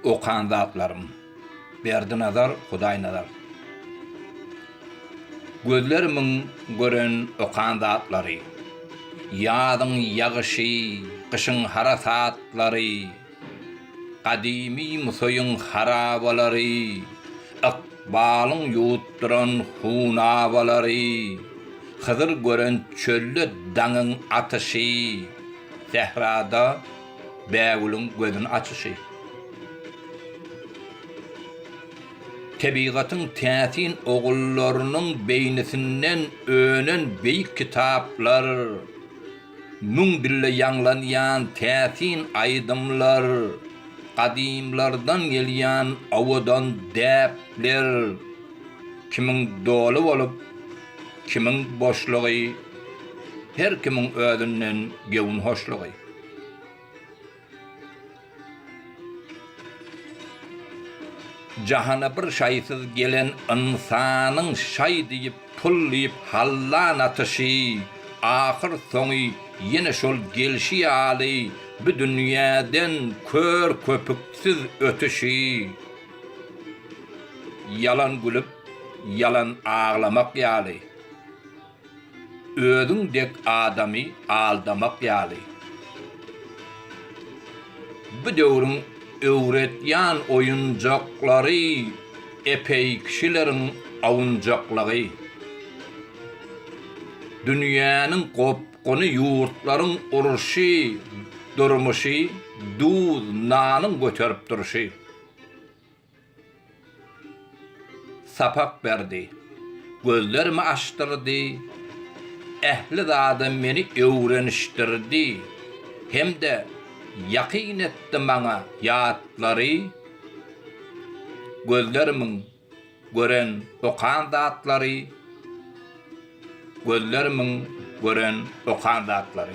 Okan zatlarym. Berdinazar Hudaýnazar. Gözlerimiň gören okan zatlary. Ýazyň ýagyşy, gyşyň harasatlary, gadymy Musaýyň harabalary, ykbalyň ýuwutdyran hunabalary, Hydyr gören çölde daňyň atyşy, sährada Bägüliň gözüni açyşy. Tebigatyň täsin ogullarynyň beýnisinden önen beýik kitaplar, müň dille ýaňlanýan täsin aýdymlar, gadymlardan gelýän owadan däpler, kimiň doly bolup, kimiň boşlugy, her kimiň özünden göwün hoşlugy. Jahana bir şaýsyz gelen ynsanyň şaý diýip, pul diýip hallan atyşy, ahyr soňy ýene şol gelşi ýaly bu dünýäden kör-köpüksiz ötüşi. Ýalan gülüp, ýalan aglamak ýaly. Özüň dek adamy aldamak ýaly. Bu döwrüň öwretýän oýunjaklary epeý kişileriň awunjaklygy. Dünýäniň gopguny ýurtlaryň urşy durmuşy duz nanyň göterip durşy. Sapak berdi. Gözlerimi açdyrdy. Ähli zada meni öwrenişdirdi hem-de ýakyn etdi maňa ýatlary, gözlerimiň gören, okan zatlary. Gözlerimiň gören, okan zatlary.